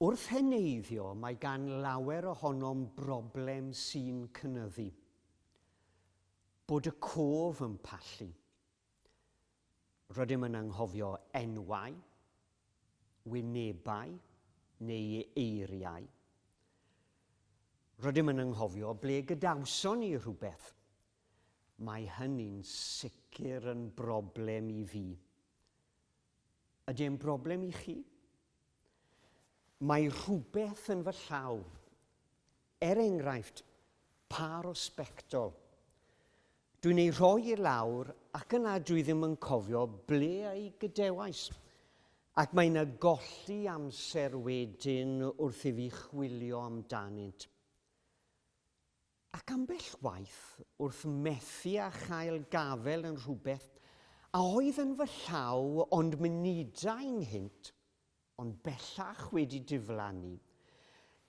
Wrth heneiddio, mae gan lawer ohonom broblem sy'n cynyddu. Bod y cof yn pallu. Rydym yn anghofio enwau, wynebau neu eiriau. Rydym yn anghofio ble gadawson ni rhywbeth. Mae hynny'n sicr yn broblem i fi. Ydy e'n broblem i chi? Mae rhywbeth yn fy llaw, er enghraifft, pâr o sbectol. Dwi'n ei rhoi i lawr ac yna dwi ddim yn cofio ble ei gadewais. Ac mae yna golli amser wedyn wrth i fi chwilio amdanynt. Ac ambell waith, wrth methu â chael gafael yn rhywbeth a oedd yn fy llaw ond munudau nghynt, ond bellach wedi diflannu,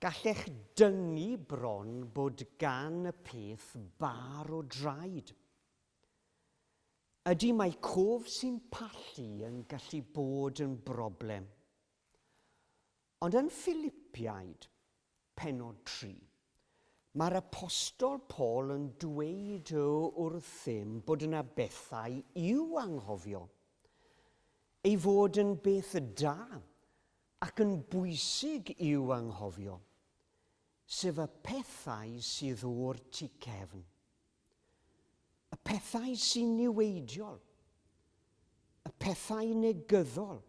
gallech dyngu bron bod gan y peth bar o draed. Ydy mae cof sy'n pallu yn gallu bod yn broblem. Ond yn Ffilipiaid, pennod tri, mae'r apostol Paul yn dweud wrthym bod yna bethau i'w anghofio, ei fod yn beth da ac yn bwysig i'w anghofio, sef y pethau sydd o'r tu cefn. y pethau sy'n niweidiol, y pethau negyddol,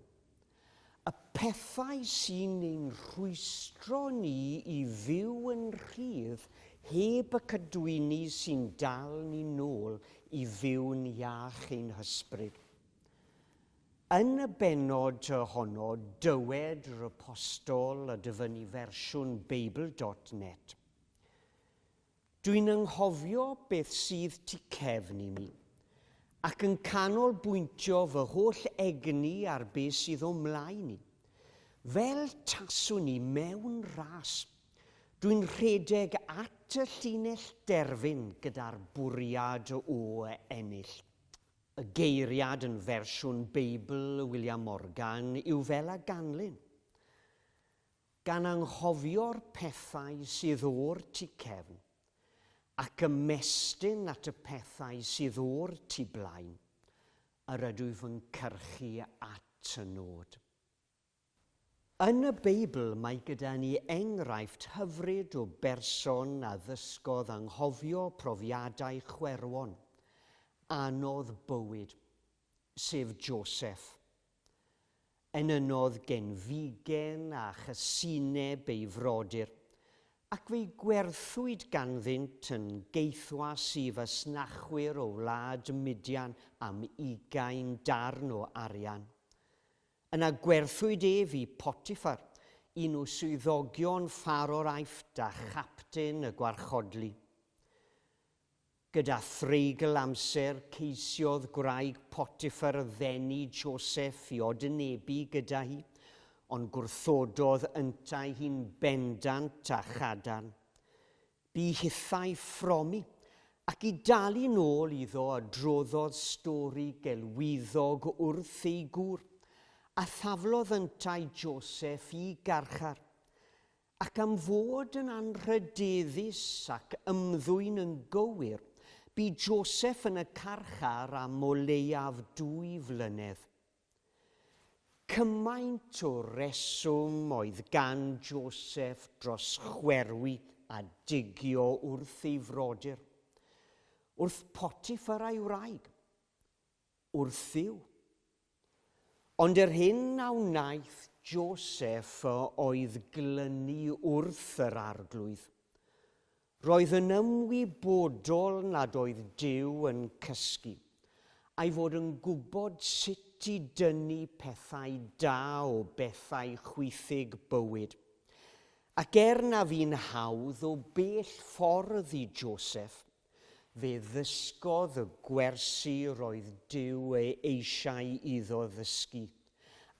y pethau sy'n ein rhwystro ni i fyw yn rhydd heb y cadwyni sy'n dal ni'n nôl i fyw'n iach ein hysbryd. Yn y benod honno, dywed yr apostol a dyfynnu fersiwn Beibl.net, Dwi'n anghofio beth sydd tu cefn i mi, ac yn canolbwyntio fy holl egni ar be sydd o'm mlaen i. Fel taswn i mewn ras. Dwi'n rhedeg at y llinell derfyn gyda'r bwriad o ennill. Y geiriad yn fersiwn Beibl William Morgan yw fel a ganlyn. gan anghofio'r pethau sydd o'r tu cefn, ac ymestyn at y pethau sydd o'r tu blaen, yr ydw fy nghyrchu at y nod. Yn y Beibl mae gyda ni enghraifft hyfryd o berson a ddysgodd anghofio profiadau chwerwon anodd bywyd, sef Joseph, Enynnodd genfigen a chysineb ei frodyr, ac fe'i gwerthwyd ganddynt yn geithwas i fasnachwyr o wlad Midian am ugain darn o arian. Yna gwerthwyd ef i Potiffar, un o swyddogion Pharao'r Aifft a chapten y gwarchodlu. Gyda threigl amser, ceisiodd gwraig Potiffar ddenu Joseph i odynebu gyda hi, ond gwrthododd yntau hi'n bendant a chadarn. Bu hithau ffromi, ac i dalu'n ôl iddo adroddodd stori gelwyddog wrth ei gŵr, a thaflodd yntau Joseph i garchar. Ac am fod yn anrhydeddus ac ymddwyn yn gywir, bu Joseph yn y carchar am o leiaf dwy flynedd. Cymaint o reswm oedd gan Joseph dros chwerwi a digio wrth ei frodyr, wrth Potiphar a'i wraig. wrthyw. Ond yr hyn a wnaeth Joseph oedd glynu wrth yr Arglwydd. Roedd yn ymwybodol nad oedd Duw yn cysgu, a'i fod yn gwybod sut i dynnu pethau da o bethau chwithig bywyd. Ac er na fu'n hawdd o bell ffordd i Joseph, Fe ddysgodd y gwersi roedd Duw ei eisiau iddo ddysgu.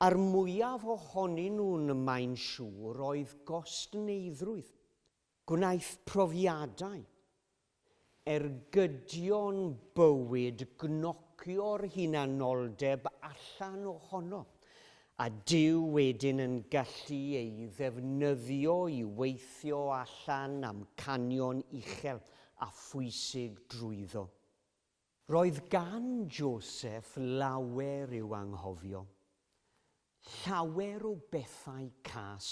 A'r mwyaf ohonyn nhw'n mae'n siŵr oedd gostneuddrwydd. Gwnaeth profiadau, ergydion bywyd gnocio'r hunanoldeb allan ohono, A dyw wedyn yn gallu ei ddefnyddio i weithio allan amcanion uchel a phwysig drwyddo. Roedd gan Joseph lawer i'w anghofio. Llawer o bethau cas.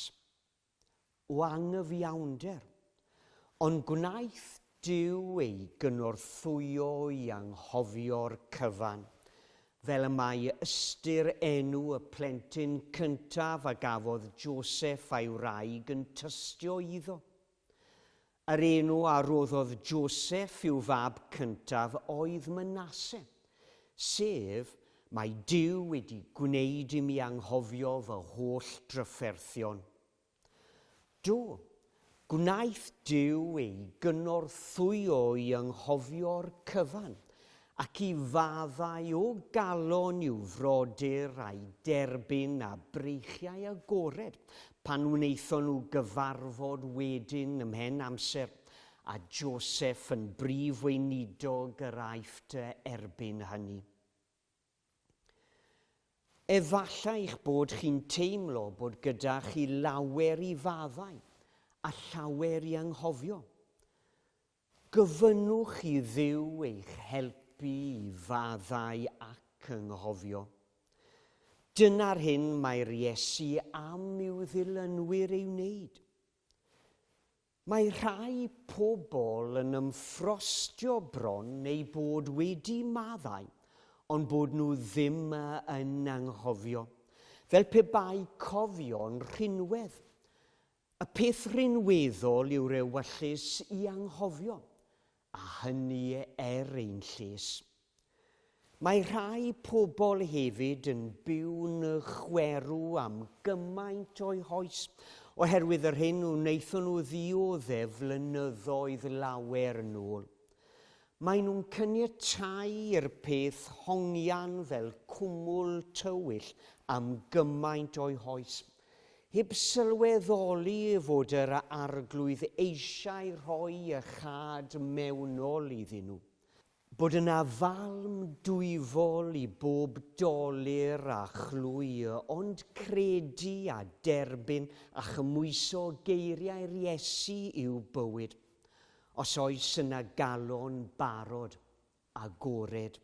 o anghyfiawnder, ond gwnaeth Duw ei gynorthwyo i anghofio'r cyfan, fel y mae ystyr enw y plentyn cyntaf a gafodd Joseff a'i wraig yn tystio iddo. Yr enw a roddodd Joseph i'w fab cyntaf oedd Manasse, sef, Mae Duw wedi gwneud i mi anghofio fy holl drafferthion. Do, gwnaeth Duw ei gynorthwyo i anghofio'r cyfan Ac i faddau o galon i'w frodyr a'i derbyn â breichiau agored, pan wnaethon nhw gyfarfod wedyn ymhen amser, a Joseph yn brif weinidog yr Aifft erbyn hynny. Efallai eich bod chi'n teimlo bod gyda chi lawer i faddau a llawer i anghofio. Gofynnwch i Dduw eich helpu i faddau ac ynghofio. Dyna'r hyn mae'r Iesu am i'w ddilynwyr ei wneud. Mae rhai pobl yn ymffrostio bron eu bod wedi maddau ond bod nhw ddim yn anghofio, fel pe bai cofio'n rhinwedd. Y peth rhinweddol yw'r ewyllys i anghofio, a hynny er ein lles. Mae rhai pobl hefyd yn byw'n chwerw am gymaint o'u hoes oherwydd yr hyn wnaethon nhw ddioddef flynyddoedd lawer yn ôl. Maen nhw'n caniatáu i'r peth hongian fel cwmwl tywyll am gymaint o'u hoes Heb sylweddoli fod yr Arglwydd eisiau rhoi y chad mewnol iddyn nhw. Bod yna falm dwyfol i bob dolur a chlwy, ond credu a derbyn a chymwyso geiriau'r Iesu i'w bywyd, os oes yna galon barod, agored.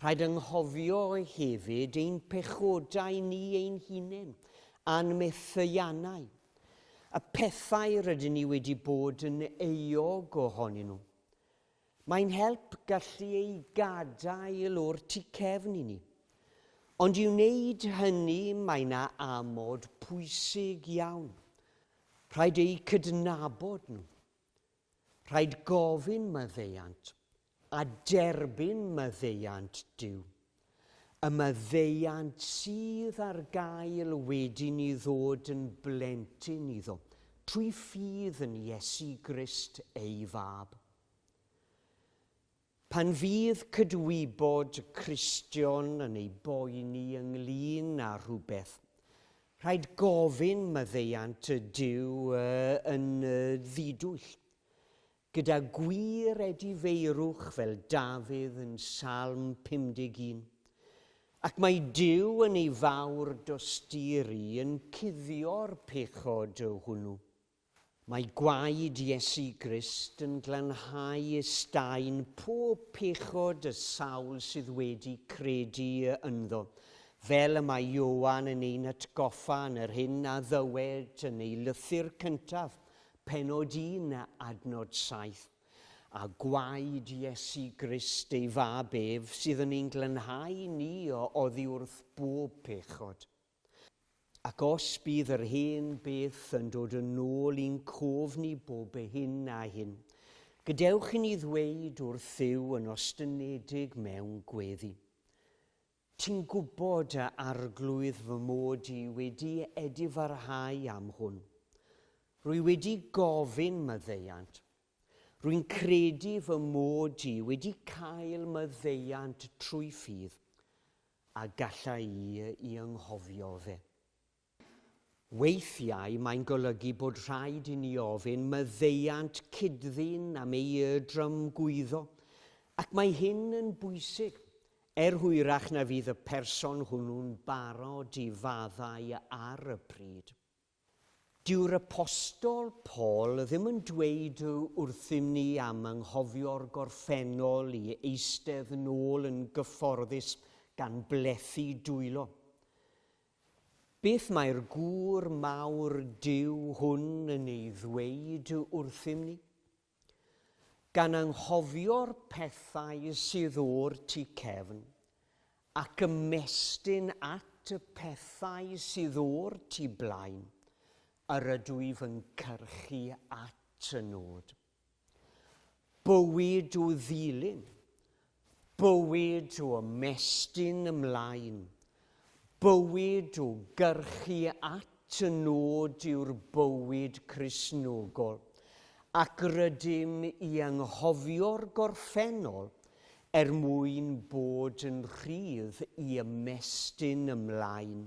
Rhaid anghofio hefyd ein pechodau ni ein hunain, a'n methiannau, y pethau rydyn ni wedi bod yn euog ohonyn nhw. Mae'n help gallu eu gadael o'r tu cefn i ni. Ond i wneud hynny mae yna amod pwysig iawn. Rhaid eu cydnabod nhw. Rhaid gofyn maddeuant, a derbyn maddeuant Duw. Y maddeuant sydd ar gael wedi ni ddod yn blentyn iddo, trwy ffydd yn Iesu Grist ei Fab. Pan fydd cydwybod Cristion yn ei boeni ynglyn â rhywbeth, rhaid gofyn maddeuant y Duw y yn y ddidwyll, gyda gwir edifeirwch fel Dafydd yn Salm 51, ac mae Duw yn ei fawr dosturi yn cuddio'r pechod hwnnw. Mae gwaed Iesu Grist yn glanhau ysdain pob pechod y sawl sydd wedi credu ynddo, fel y mae Ioan yn ein atgoffa yn yr hyn a ddywed yn ei lythyr cyntaf, penod 1 a adnod 7. A gwaed Iesu Grist ei Fab ef sydd yn ein glanhau ni o oddi wrth bob pechod. Ac os bydd yr hen beth yn dod yn ôl i'n cof ni bob hyn a hyn, gadewch i ni ddweud wrth Dduw yn ostynedig mewn gweddi, Ti'n gwybod, a Arglwydd, fy mod i wedi edifarhau am hwn. Rwy wedi gofyn maddeuant, Rwy'n credu fy mod i wedi cael maddeuant trwy ffydd a gallai i i anghofio fe. Weithiau mae'n golygu bod rhaid i ni ofyn maddeuant cyd-ddyn am ei drymgwyddo, ac mae hyn yn bwysig, er hwyrach na fydd y person hwnnw'n barod i faddau ar y pryd. Dyw'r Apostol Paul ddim yn dweud wrthym ni am anghofio'r gorffennol i eistedd yn ôl yn gyfforddus gan blethu dwylo. Beth mae'r gŵr mawr Duw hwn yn ei ddweud wrthym ni? Gan anghofio'r pethau sydd o'r tu cefn, ac ymestyn at y pethau sydd o'r tu blaen, yr ydw i fy nghyrchu at y nod. Bywyd o ddilyn, Bywyd o ymestyn ymlaen, bywyd o gyrchu at y nod yw'r bywyd Cristnogol, ac rydym i anghofio'r gorffennol er mwyn bod yn rhydd i ymestyn ymlaen.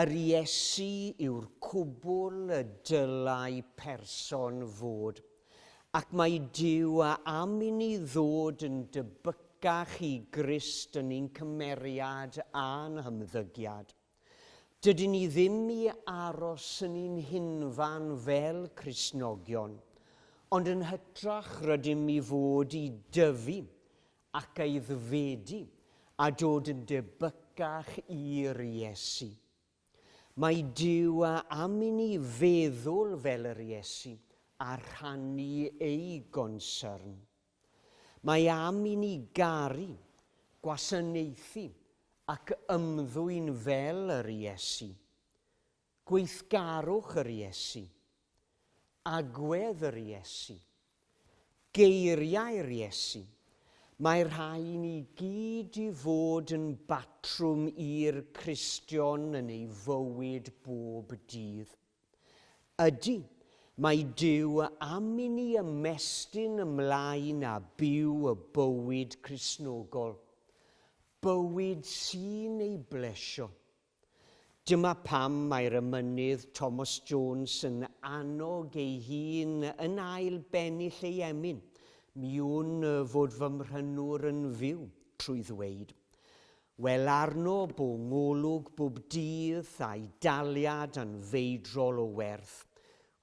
Yr Iesu yw'r cwbl y dylai person fod, ac mae Duw a am i ni ddod yn debycach i Grist yn ein cymeriad a'n hymddygiad. Dydyn ni ddim i aros yn un hunfan fel Cristnogion, ond yn hytrach rydym i fod i dyfu ac aeddfedu a dod yn debycach i'r Iesu. Mae Duw a am i ni feddwl fel yr Iesu a rhannu ei gonsyrn. Mae am i ni garu, gwasanaethu ac ymddwyn fel yr Iesu. Gweithgarwch yr Iesu. Agwedd yr Iesu. Geiriau'r Iesu. Mae rhai i ni gyd i fod yn batrwm i'r Cristion yn ei fywyd bob dydd. Ydy, mae Duw am i ni ymestyn ymlaen a byw y bywyd Crisnogol. Bywyd sy'n ei blesio. Dyma pam mae'r emynydd Thomas Jones yn annog ei hun yn ail bennill ei emyn, mi wn fod fy mhrynwr yn fyw, trwy ddweud, Wel arno bu ngolwg bwb dydd a'i daliad yn feidrol o werth.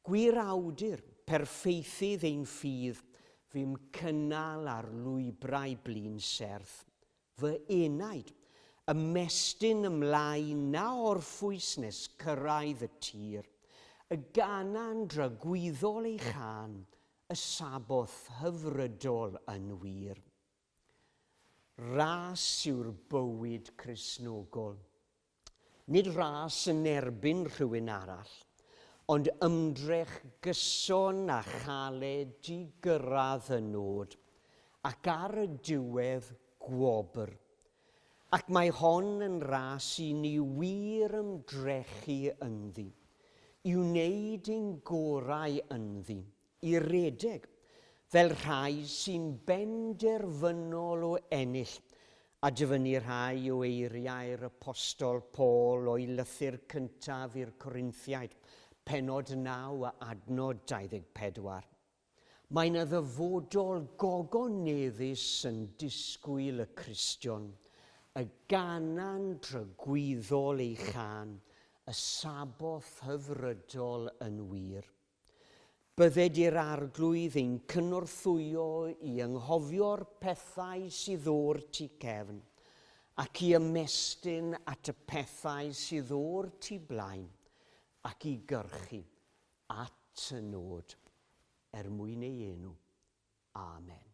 Gwir awdur, perffeithydd ein ffydd, fu'm cynnal ar lwybrau blin serth. Fy enaid, ymestyn ymlaen na orffwys nes cyrraedd y tir, y gana'n dragwyddol ei chân, y Sabboth hyfrydol yn wir. Ras yw'r bywyd Cristnogol. Nid ras yn erbyn rhywun arall, ond ymdrech gyson a chaled i gyrraedd y nod, ac ar y diwedd, gwobr. Ac mae hon yn ras i ni wir ymdrechu ynddi, i wneud ein gorau ynddi, i redeg fel rhai sy'n benderfynol o ennill, a dyfynnu rhai o eiriau'r Apostol Paul o'i lythyr cyntaf i'r Corinthiaid, pennod 9 a adnod 24. Mae yna ddyfodol gogoneddus yn disgwyl y Cristion, y ganan dragwyddol ei chân, y Sabboth hyfrydol yn wir. Bydded i'r Arglwydd ein cynorthwyo i anghofio'r pethau sydd o'r tu cefn, ac i ymestyn at y pethau sydd o'r tu blaen, ac i gyrchu at y nod er mwyn ei enw. Amen.